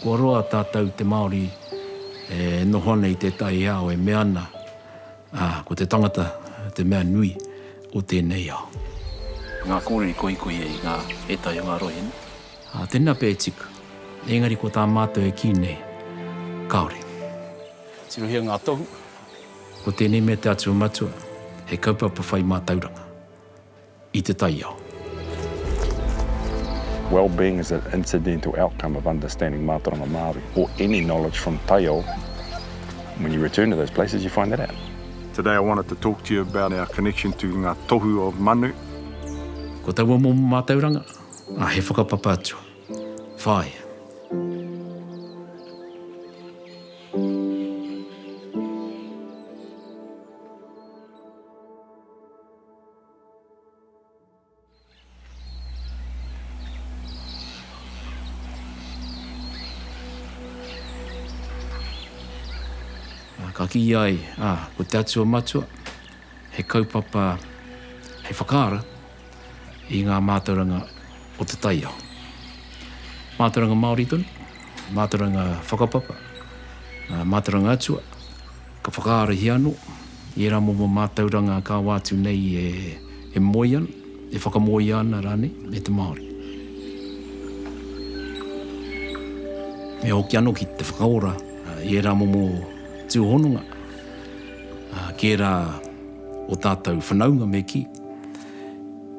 Kua roa tātou te Māori e noho ana i tētahi ao e mea ana, ā, ko te tangata te mea nui o tēnei ao. Ngā kōrere koikoi i ngā, ētahi o ngā rohe nei. Ā, tēnā pea e tika. Engari ko tā mātou e kī nei, kāore. Tirohia ngā tohu. Ko tēnei mea te Atua Matua, he kaupapa whai mātauranga. i te taiao. Wellbeing is an incidental outcome of understanding Mātauranga Māori or any knowledge from taiao, when you return to those places you find that out. Today I wanted to talk to you about our connection to ngā tohu of manu. Ko taua momo mātauranga, a he whakapapa atua. Whāia. Ka kī ai, ā, ko te Atua Matua, he kaupapa, he whakaara i ngā mātauranga o te taiao. Mātauranga Māori tonu, mātauranga whakapapa, mātauranga Atua, Ka whakaarahia ano i era momo matauranga kawa atu nei e moe ana, e whakamoea ana ranei e te Maori. Me hoki ano ki te whakaora i era momo tuhononga ki era o tatou whanaunga me ki,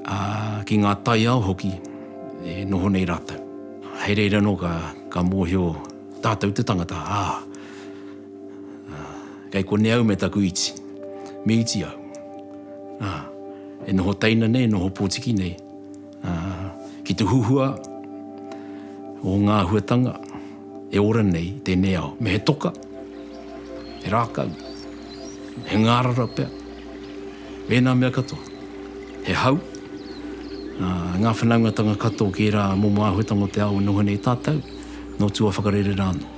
a ki nga taiao hoki e noho nei ratou. Hei reira ano ka mohio tatou te tangata, a. Ā, kei konei au me taku iti. Me iti au. Ā, e noho teina nei, e noho potiki nei, ā, ki te huhua o ngā āhuatanga e ora nei i tēnei ao. Me he toka, he rākau, he ngārara pea, me ēnā mea katoa. He hau, ā, ngā whanaungatanga katoa ki ērā momo āhuatanga o te ao e noho nei tātou, nō tua whakarere rā anō.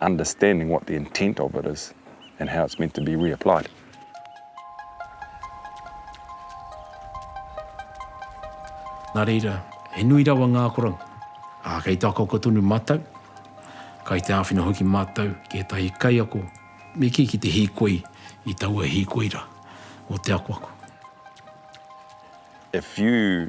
understanding what the intent of it is and how it's meant to be reapplied. Nā reira, he nui rawa ngā akoranga. Ā, kei te akaoka tonu mātou, kai te āwhina hoki mātou ki ētahi kaiako me kī ki te hīkoi i taua hīkoi rā o te akoako. If you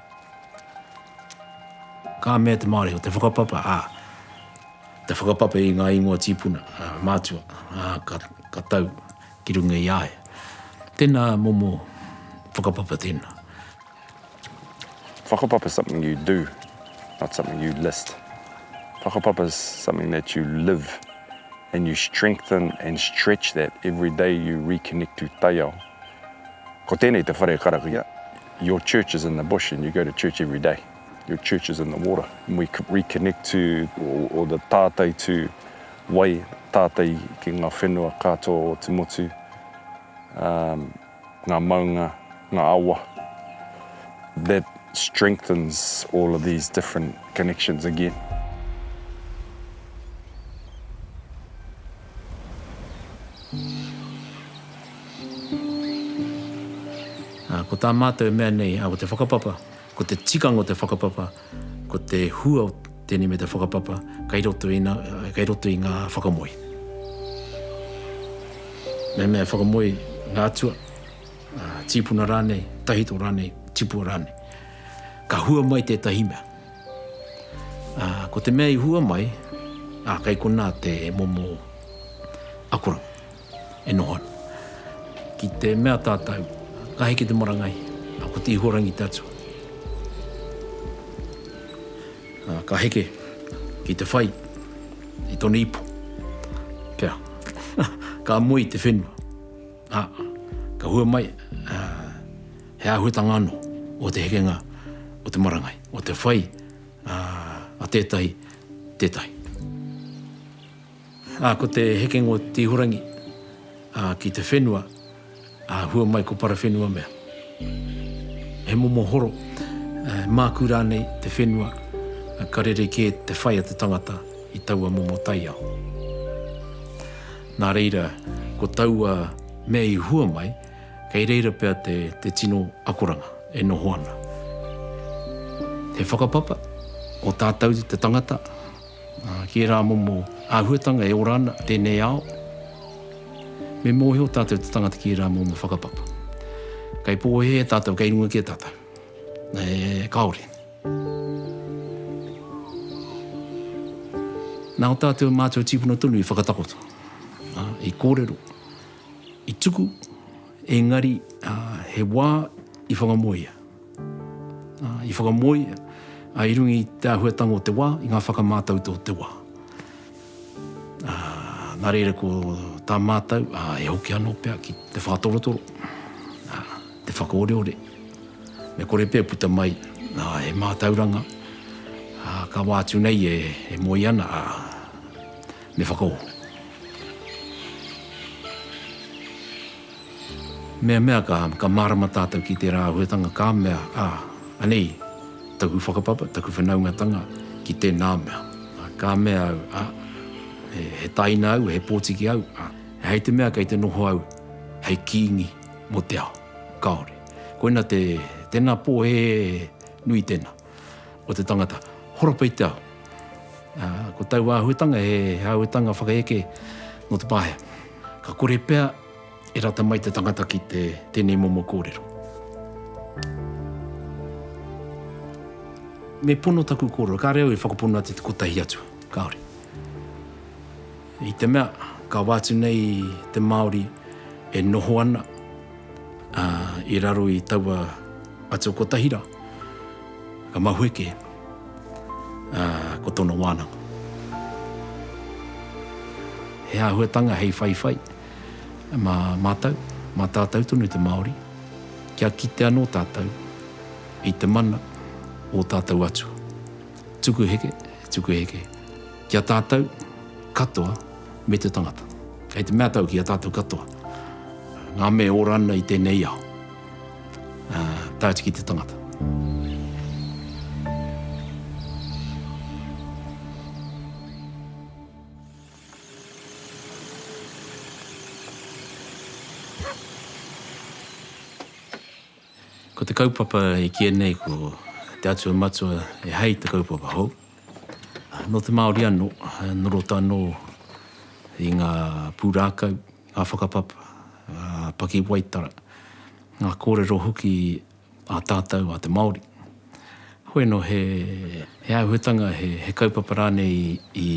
Ka mea te Māori, ko te whakapapa, ā, te whakapapa i ngā ingoa tīpuna, ā, mātua, ā, ka, ka tau ki runga i a ia. Tēnā momo whakapapa tēnā. Whakapapa is something you do, not something you list. Whakapapa is something that you live and you strengthen and stretch that every day you reconnect to taiao. Ko tēnei te whare karakia, Your church is in the bush and you go to church every day. Your church is in the water and we reconnect to or the tātai to wai tātai ki ngā whenua katoa o te motu, um, ngā maunga, ngā awa. That strengthens all of these different connections again. Ā, ko tā mātou e mea nei, ā, ko te whakapapa, ko te tikanga o te whakapapa, ko te hua o tēnei me te whakapapa, kei roto i nā, kei roto i ngā whakamoe. Mehemea e whakamoe ngā atua, ā, tīpuna rānei, tahito rānei, tipua rānei, ka hua mai tētahi mea. Ā, ko te mea i hua mai, ā, kei konā te momo akoranga e noho ana. Ki te mea tātou, ka heke te marangai, ā, ko te Ihorangi te Atua, ā, ka heke ki te whai i tōna ipu, kia, ka moe i te whenua. Ā, ka hua mai, ā, he āhuatanga anō o te hekenga o te marangai, o te whai, ā, a tētahi, tētahi. Ā, ko te hekenga o te ihorangi, ā, ki te whenua, ā, hua mai ko Parawhenua mea. He momo horo, ā, he mākū rānei te whenua, ā, ka rerekē te whai a te tangata i taua momo taiao. Nā reira, ko taua mea i hua mai, kei reira pea te, te tino akoranga e noho ana. He whakapapa, ko tātou te tangata, ki ērā momo āhuatanga e ora ana tēnei ao, me mōhio tātou te tangata ki ērā momo whakapapa. Kei pōhēhē tātou, kei runga kē tātou. Kāore. Nā o tātou mātua tīpuna tonu i whakatakoto, i kōrero, i tuku, engari he wā i whakamoea. I whakamoea i runga i te āhuatanga o te wā, i ngā whakamātautau o te wā. Nā reira ko tā mātou, e hoki anō pea ki te whātorotoro, te whakaoreore, me kore pea e puta mai he mātauranga ka wā atu nei e moe ana, ā, me whakaoho. Meamea ka, ka mārama tātou ki tērā āhuetanga ka mea, ā, anei taku whakapapa, taku whanaungatanga ki tēnā mea. Ā, ka mea au, ā, he, he taina au, he pōtiki au, ā, e hei te mea kei te noho au hei kīngi mō te ao. Kāore. Koina te, tēnā pōhēhē nui tēnā. o te tangata, horapa i te ao. Ā, ko tau āhuatanga, he āhuatanga whakaeke nō te Pāhea. Ka kore pea e rata mai te tangata ki te, tēnei momo kōrero. Me pono taku kōrero, kāre au e whakapono atu te kotahi atu, kāore. I te mea, kawa atu nei te Māori e noho ana i raro i taua atua kotahi rā, ka mahue kē, ko tōna wānanga. He āhuatanga hei whaiwhai mā mātou, mā tātou tonu te Māori, kia kite anō tātou i te mana o tātou Atua. Tuku heke, tuku heke. Ki a tātou katoa me te tangata. Kei te mea tau ki a tātou katoa, ngā me ora ana i tēnei ao, tae atu ki te tangata. Ko te kaupapa i kīia nei ko Te Atua Matua e hei te kaupapa hou. Nō te Māori anō, norota anō i ngā pūrākau, ngā whakapapa, ngā pakiwaitara, ngā kōrero hoki a tātou a te Māori. Hoi anō he āhuatanga, he kaupapa rānei i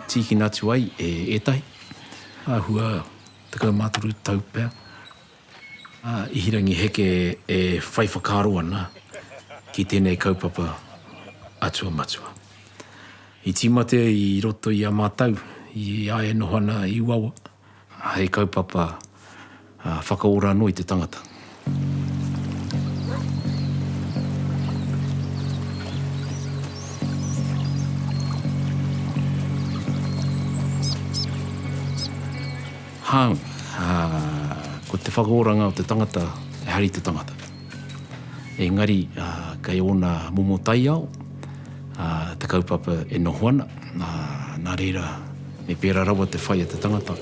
tīkina atu ai e ētahi. Āhua tekau mā toru tau pea. a Ihirangi Heke e whai whakaaro ana ki tēnei kaupapa Atua Matua. I tīmata i roto i a mātou, i a e noho ana i Uawa, hei kaupapa whakaora anō i te tangata. Hāunga, ko te whakaoranga o te tangata, ehara i te tangata. Engari, kei ōna momo taiao te kaupapa e noho ana, nā reira, me pērā rawa te whai a te tangata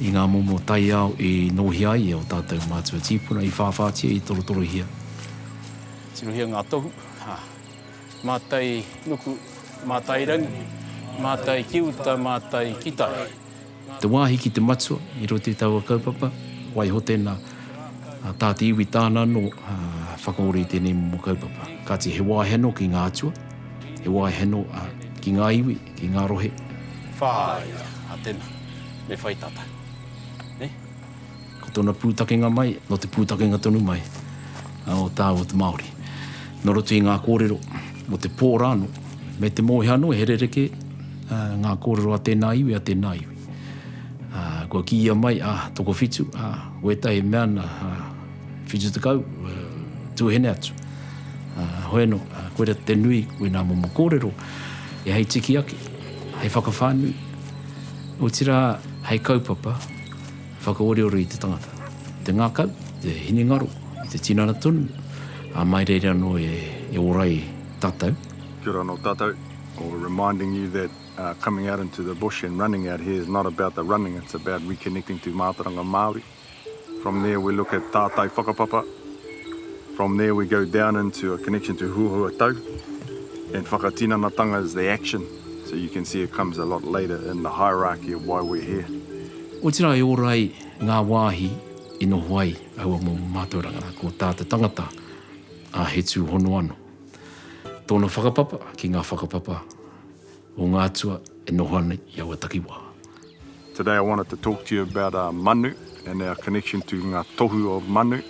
i ngā momo taiao i nōhia ai e ō tātou mātua tīpuna, i whāwhātia, i torotorohia. Tirohia ngā tohu, mātai nuku, mātai rangi, mātai ki uta, mātai ki tai. te wāhi ki te matua i roto i taua kaupapa, waiho tēnā, tā te iwi tāna anō whakaora i tēnei momo kaupapa. Kāti he wāhi anō ki ngā atua, he wāhi anō ki ngā iwi, ki ngā rohe. Whāia, ā tēnā, me whai tātou. Nē? Ko tōna pūtakenga mai, nō te pūtakenga tonu mai o te ao o te Māori. Nō roto i ngā kōrero mō te pō rānō, me te mōhio anō he rerekē ngā kōrero a tēnā iwi, a tēnā iwi. Kua kīia mai, a, tokowhitu, a, wētahi mea na, a, whitu tekau, a, tūhene atu. A, hoi anō, a, koira te nui, koe nā momo kōrero, e hei tiki ake, hei whakawhānui, otirā hei kaupapa, Whakaoreore i te tangata, i te ngākau, i te hinengaro, i te tinana tonu, ā, mai reira anō e ora ai tātou. Kia ora anō tātou, or reminding you that coming out into the bush and running out here is not about the running, it's about reconnecting to mātauranga Māori. From there we look at tātai whakapapa, from there we go down into a connection to huhua tau, and whakatinanatanga is the action, so you can see it comes a lot later in the hierarchy of why we're here. Otirā e ora ai ngā wāhi i noho ai aua momo mātauranga, nā, ko tā te tangata, a, he tūhono anō. Tōna whakapapa ki ngā whakapapa o ngā atua e noho ana i aua takiwā. Today I wanted to talk to you about our manu and our connection to ngā tohu of manu.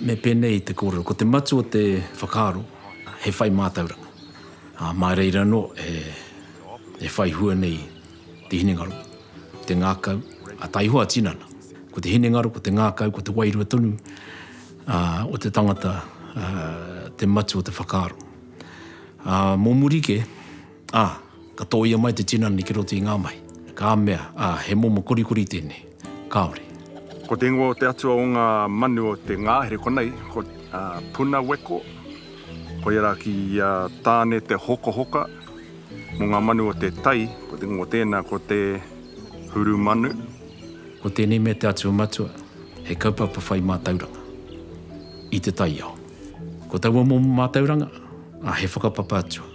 Me pēnei i te kōrero, ko te matū o te whakaaro, he whai mātauranga, ā, mā reira anō e whai hua nei. te hinengaro, te ngākau, ā, tā Ihoa tinana, ko te hinengaro, ko te ngākau, ko te wairua tonu ā, o te tangata ā, te matu o te whakaaro. Ā, mō muri kē, ā, ka tōia mai te tinana ki roto i ngā mahi, ka mea, ā, he momo korikori tēnei. Kāore. Ko te ingoa o te atua o ngā manu o te ngāhere konei, ko Punaweko, koia rā ki a Tāne te hokahoka mō ngā manu o te tai, ko te ingoa o tēnā ko te Hurumanu. Ko tēnei mea te atua matua, he kaupapa whai mātauranga i te taiao. Ko taua momo mātauranga, he whakapapa atua.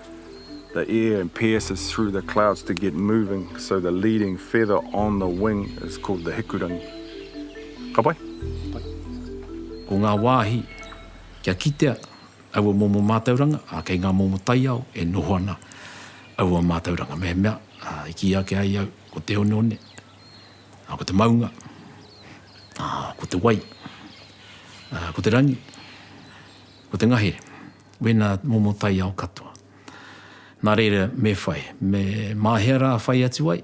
the air and pierces through the clouds to get moving, so the leading feather on the wing is called the hikurangi. Ka pai? Ko ngā wāhi kia kitea aua momo mātauranga, ā, kei ngā momo taiao e noho ana aua mātauranga. Mehemea i kī ake ai au ko te oneone, ā, ko te maunga, ā, ko te wai, ā, ko te rangi, ko te ngahere. Wena momo taiao katoa. Na reira me whai, me ma hea ra whai atu ai?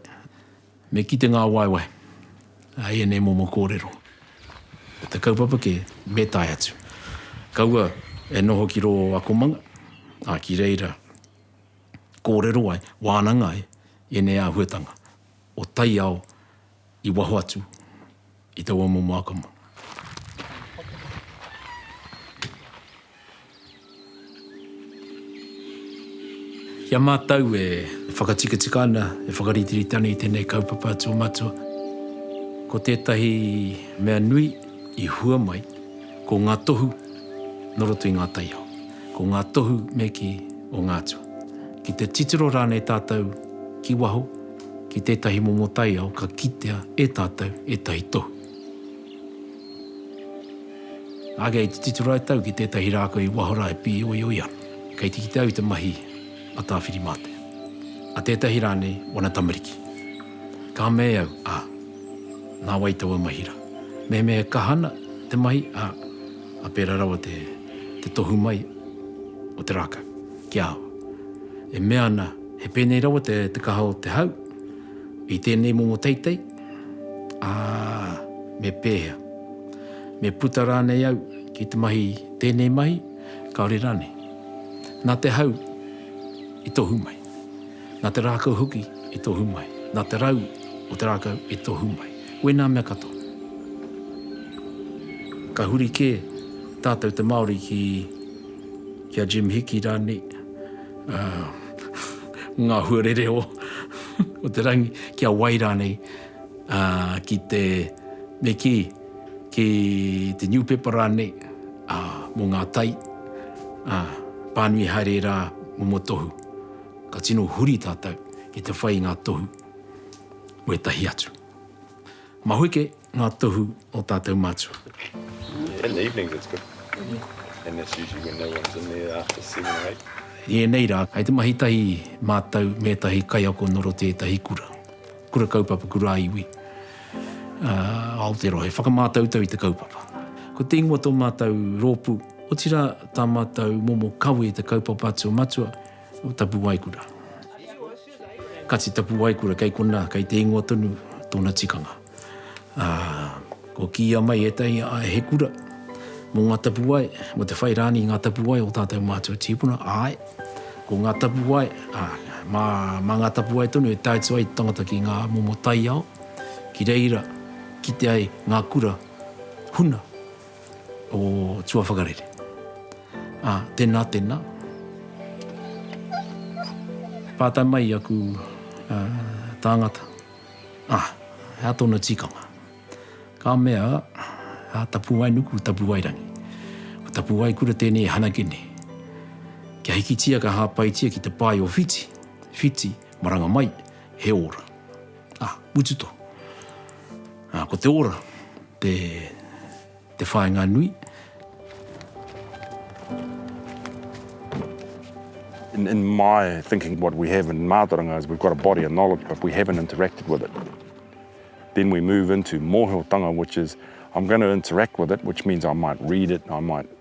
Me kite nga waewae i enei momo korero. Ko te kaupapa ke, me tae atu. Kaua e noho ki ro o akomanga, a ki reira korero ai, wananga ai enei ahuatanga o taiao i waho atu i taua momo akama. Ki a mātou e whakatikatika ana, e whakaritirita ana i tēnei kaupapa atua matua, ko tētahi mea nui i hua mai, ko ngā tohu nō roto i ngā taiao, ko ngā tohu me kī o ngā atua. Ki te titiro rānei tātou ki waho, ki tētahi momo taiao ka kitea e tātou ētahi tohu. Ake i te tito rae tau ki tētahi rākau i waho rā e pīoioi ana, kei te kite au i te mahi a Tāwhirimātea, a tētahi rānei wana tamariki. Ka mea au, ā, nā wai taua mahi rā? Mehemea e kaha ana te mahi, ā, ā pērā rawa te tohu mai o te rākau, kia awa. E mea ana. He pēnei rawa te kaha o te hau i tēnei momo teitei, ā, me pēhea? Me puta rānei au ki te mahi tēnei mahi, kāore rānei? Nā te hau i tohu mai, nā te rākau hoki i tohu mai, nā te rau o te rākau i tohu mai, wēnā mea katoa. Ka huri kē tātou te Māori ki a Jim Hiki rānei, Ngā huarere o te rangi, kia wai rānei ki te, me kī, ki te niupepa rānei mō ngā tai, pānui haere rā momo tohu. Ka tino huri tātou ki te whai i ngā tohu o ētahi atu. Mahuike nga tohu o tatou matua. In the evenings it's good and that's usually when no one's in there after seven or eight. I enei ra, kai te mahi tahi matou me etahi kaiako no roto i etahi kura, kura kaupapa, kura iwi a Aotearoa he whakamatautau i te kaupapa. Ko te ingoa to matou ropu, otira ta matou momo kawe i te kaupapa atu o matua. o Tapuwaekura. Kati Tapuwaekura kei konā, kei te ingoa tonu tōna tikanga. Ā, kua kīia mai ētahi he kura mō ngā tapuwae, mō te whai rānei i ngā tapuwae o tātou mātua tīpuna, āe, ko ngā tapuwae, ā, mā, mā ngā tapuwae tonu e tae atu ai te tangata ki ngā momo taiao, ki reira kite ai ngā kura huna. o tuawhakarere. A, tena, tena. Pātai mai i aku tāngata, a, hea tona tikanga? Ka mea, a, Tapuwainuku, Tapuwairangi. Ko Tapuwaikura tēnei e hanake nei. Kia hikitia ka hāpaitia ki te pae o Whiti, Whiti, maranga mai, he ora. Ah, Wichita. Ah, ko te ora, te, te whainga nui. In, in my thinking, what we have in Mātaranga is we've got a body of knowledge, but we haven't interacted with it. Then we move into mōhiotanga, which is I'm going to interact with it, which means I might read it, I might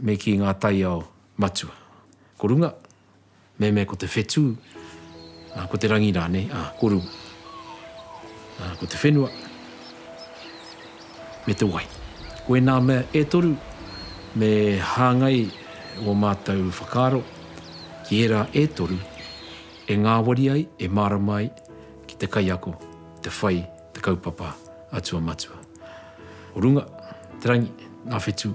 Me kī ngā taiao matua, ko runga, me me ko te whetū, ā, ko te rangi rānei, ā, ko runga. Ā, ko te whenua, me te wai. Ko ēnā mea e toru, me hāngai ō mātou whakaaro ki ērā e toru e ngāwari ai, e mārama ai ki te kaiako, te whai, te kaupapa atua matua. Ko runga, te rangi, ngā whetū.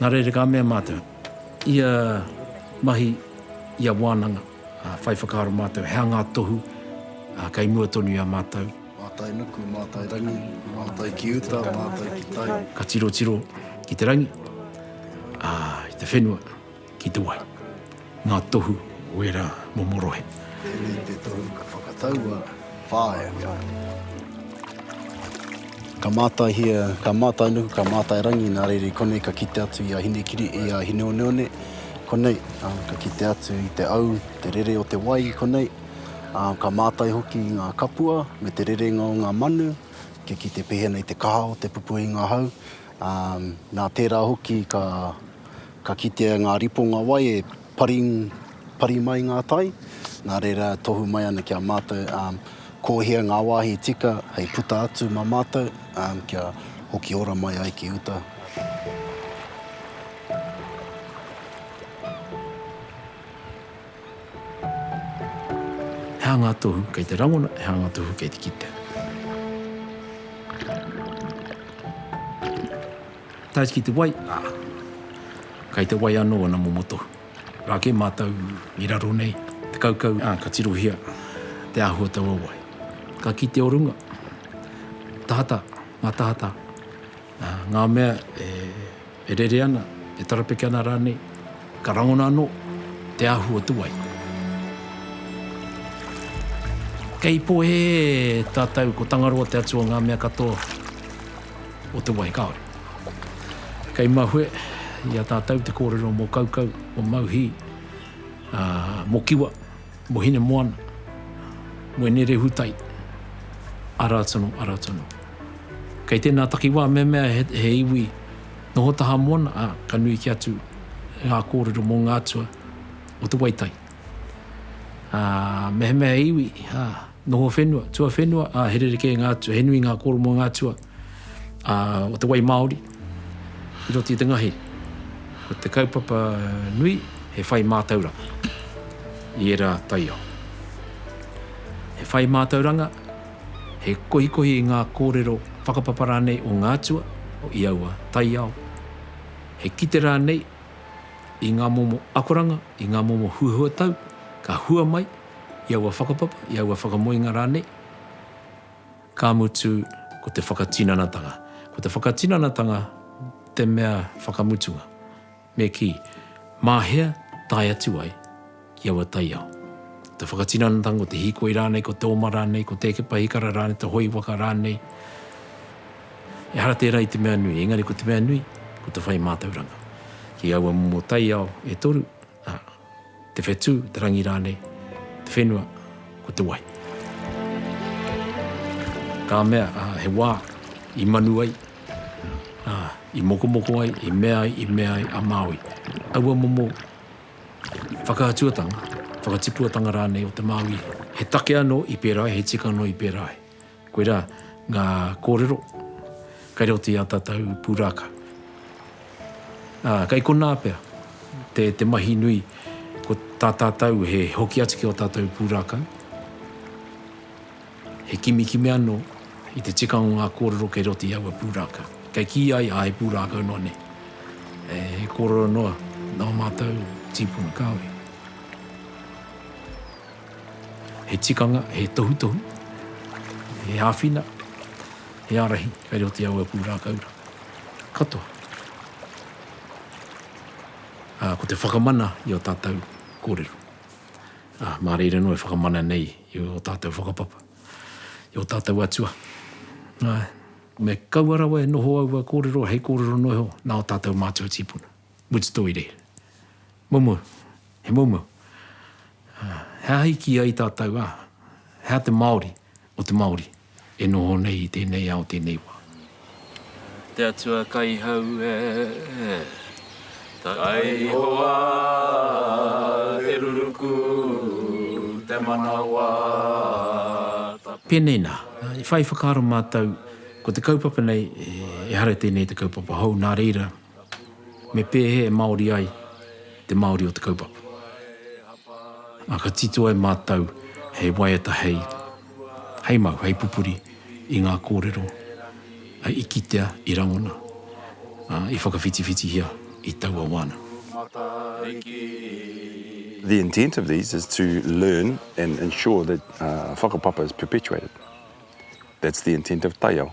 Nā reira ka mea mātou, ia mahi, ia wānanga, whai whakaaro mātou, hea ngā tohu kei mua tonu i a mātou. Mātai nuku, mātai rangi, mātai ki uta, mātai ki tai. Ka tirotiro ki te rangi, ā, i te whenua. ki te wai. Ngā tohu o ērā momo rohe. Tēnei te tohu ka whakataua whāea. Ka mātaihia, ka mātainuku, ka mātairangi, nā reira i konei ka kite atu i a Hinekiri, i a Hineoneone, konei, ā, ka kite atu i te au, te rere o te wai i konei, ā, ka mātai hoki i ngā kapua me te rerenga o ngā manu kia kite pēhea nei te kaha o te pupuhinga hau, ā, nā tērā hoki ka. Ka kitea ngā riponga wai e paring, pari mai ngā tai, nā reira tohu mai ana ki a mātou ko hea ngā wāhi tika hei puta atu mā mātou kia hoki ora mai ai ki uta. He aha ngā tohu kei te rangona, he aha ngā tohu kei te kitea? Tae ki te wai, ā, kei te wai anō ana momo tohu. Rā kē mātou i raro nei te kaukau, ā, ka tirohia te ahu o taua wai. Ka kite o runga, tahata, ngā tahata, ā, ngā mea e rere ana, e tarapeke ana rānei. Ka rangona anō te ahu o te wai. Kei pohe tātou ko Tangaroa te atu o ngā mea katoa o te wai kāore. Kei mahue i a tātou te kōrero mō Kaukau, mō Mauhī, ā, mō Kiwa, mō Hinemoana, mō Ine-rehutai, arā tonu, arā tonu. Kei tēnā takiwā mehemea he iwi, Noho taha mōna, ā, ka nui kē atu ngā kōrero mō ngā atua o te waitai. Ā, mehemea he iwi, ā, noho whenua, tuawhenua, ā, he rerekē ngā atua, he nui ngā kōrero mō ngā atua, ā, o te wai māori, i roto i te ngahi. Ko te kaupapa nui, he whai mātauranga i ērā taiao. He whai mātauranga, He kohikohi i ngā kōrero whakapapa rānei o ngā atua i aua taiao. He kite rānei i ngā momo akoranga, i ngā momo huahuatau ka hua mai i aua whakapapa, i aua whakamoenga rānei, ka mutu ko te whakatinanatanga. Ko te whakatinanatanga te mea whakamutunga. Me kī, Mā hea tae atu ai ki aua taiao? Ko te whakatinanatanga, ko te hīkoi rānei, ko te oma rānei, ko te eke pahikara rānei, te hoi waka rānei, ehara tērā i te mea nui, engari ko te mea nui, ko te whai mātauranga. Ki aua momo taiao e toru, ā, Te whetū, te rangi rānei, te whenua, ko te wai. Ka mea, he wā i manu ai, i mokomoko ai, i mea ai, i mea ai a Māui. Aua momo whakaatuatanga, whakatipuatanga rānei o te Māui. He take anō i pērā ai, he tika anō i pērā ai. Koirā ngā kōrero kei roto i ā tātou pūrākau. Ā, kei konā pea te, te mahi nui, ko tā tātou he hoki atu ki ō tātou pūrākau, he kimikimi anō i te tikanga o ngā kōrero kei roto i aua pūrākau. Kei kī ai, ā, he pūrākau noa nei. He kōrero noa nō mātou tīpuna kāore. He tikanga, he tohutohu, he āwhina, he ārahi kei raro te awa pūrākau katoa. Ā, ko te whakamana i ō tātou kōrero. Ā, mā reira noa e whakamana nei i ō tātou whakapapa, i ō tātou atua. Ā, me kaua rawa e noho aua kōrero hei kōrero noa iho nā ō tātou mātua tīpuna. Mutu toi reira. Momo. He moumou. He aha i kī ai tātou, ā, he aha te Māori o te Māori e noho nei i tēnei ao, tēnei wā? Te Atua kai hau e, kai hoa te ruruku, te manawa tapu. Pēnei nā, i whai whakaaro mātou, ko te kaupapa nei, ehara i tēnei te kaupapa hou, nā reira, Me pēhea e Māori ai te Māori o te kaupapa? Ā, ka titoa e mātou hei waiata hei, hei mau, hei pupuri i ngā kōrero i kitea, i rangona, ā, i whakawhitiwhitihia i taua wā nei. The intent of these is to learn and ensure that whakapapa is perpetuated. That's the intent of taiao.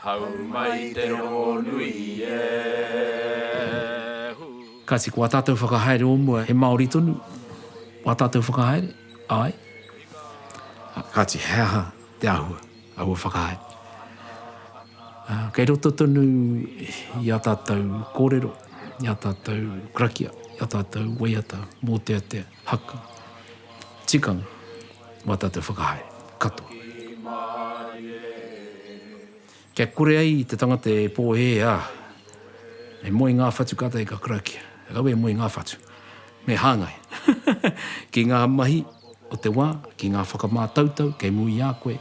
Hau mai te rongonui e. Kati, ko a tatou whakahaere o mua he Maori tonu a tatou whakahaere? Ae. Kati, he aha te ahua aua whakahaere? Kei roto tonu i a tatou korero, i a tatou krakia, i a tatou waiata, moteatea. Haka. Tikanga. Mā tātou whakahaere. Katoa. Kia kore ai te tangata e pōhēhē, ā, e moe ngā whatu kātahi ka karakia. Rawe e moe ngā whatu. Me hāngai. Ki ngā mahi o te wā, ki ngā whakamātautau kei muri i a koe,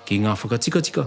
ki ngā whakatikatika,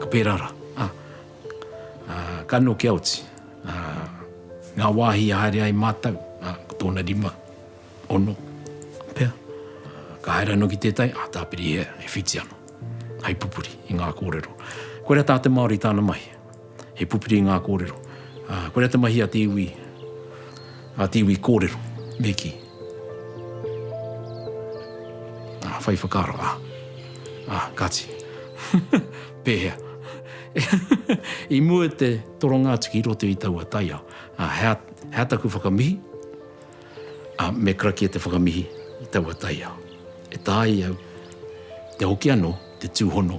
Ka pērā rā. Ka nokia oti ngā wāhi i haere ai mātou, ko tōna rima, ono, pea. Ka haere anō ki tētahi, ā, tāpiri e whiti ana, hei pupuri i ngā kōrero. Koirā tā te Māori tāna mahi. He pupuri i ngā kōrero. Ko rea te mahi a te iwi, a te iwi kōrero, me kī. Whai whakaaro, a, a, kāti. Pēhea? I mua i te toronga atu ki roto i taua taiao, hea, hea taku whakamihi? Me karakia te whakamihi i taua taiao. E tāi au, te hoki anō, te tūhono.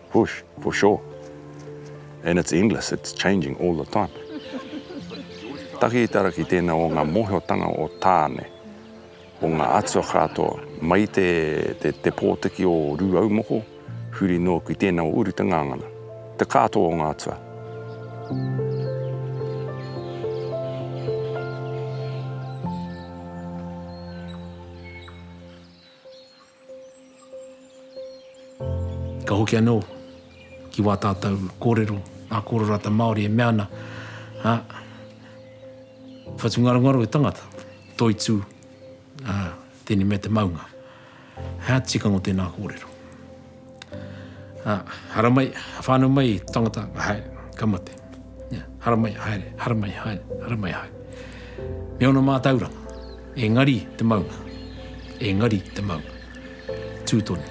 Push, for sure. And it's endless, it's changing all the time. Taki i te ara ki tēnā o ngā mōhiotanga o Tāne, o ngā atua kātoa, mai te, te, te pōtiki o Rūaumoko, huri noa ki tēnā o Uri te Ngāngana, te kātoa o ngā atua. Ka hoki anō ki wā tātou kōrero, ngā kōrero a te Māori e mea ana, ā, whatungarongaro i tangata, toitū, ā, tēnei mea te maunga. He aha te tikanga o tēnā kōrero? Ā, hara mai, whānau mai tangata, haere, ka mate. Ia, hara mai, haere, hara mai, haere, hara mai, haere. Me ōna mātauranga, engari te maunga, engari te maunga. Tū tonu,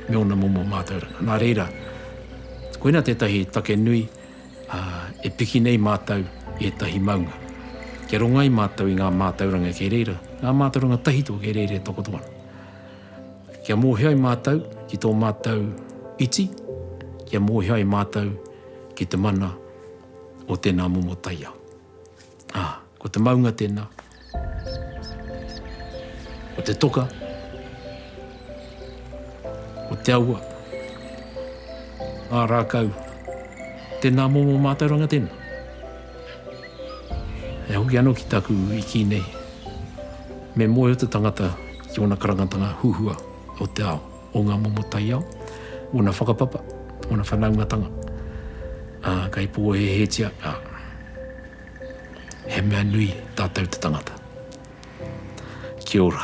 me ōna momo mātauranga. Nā reira, koina tētahi take nui, ā, e piki nei mātou i ētahi maunga. Kia rongai mātou i ngā mātauranga kei reira, ngā mātauranga tahito kei reira e takoto ana. Kia mōhio ai mātou ki tō mātou iti, kia mōhio ai mātou ki te mana o tēnā momo taiao. Ā, ko te maunga tēnā, ko te toka, ko te awa, ngā rākau, tēnā momo mātauranga tēnā. E hoki ano ki taku iki nei, me moe o te tangata ki ona karangatanga huhua o te ao, o nga momo taiao, ona whakapapa, ona whanaungatanga, a, kei pohehetia, a, he mea nui tatou te tangata. Kia ora.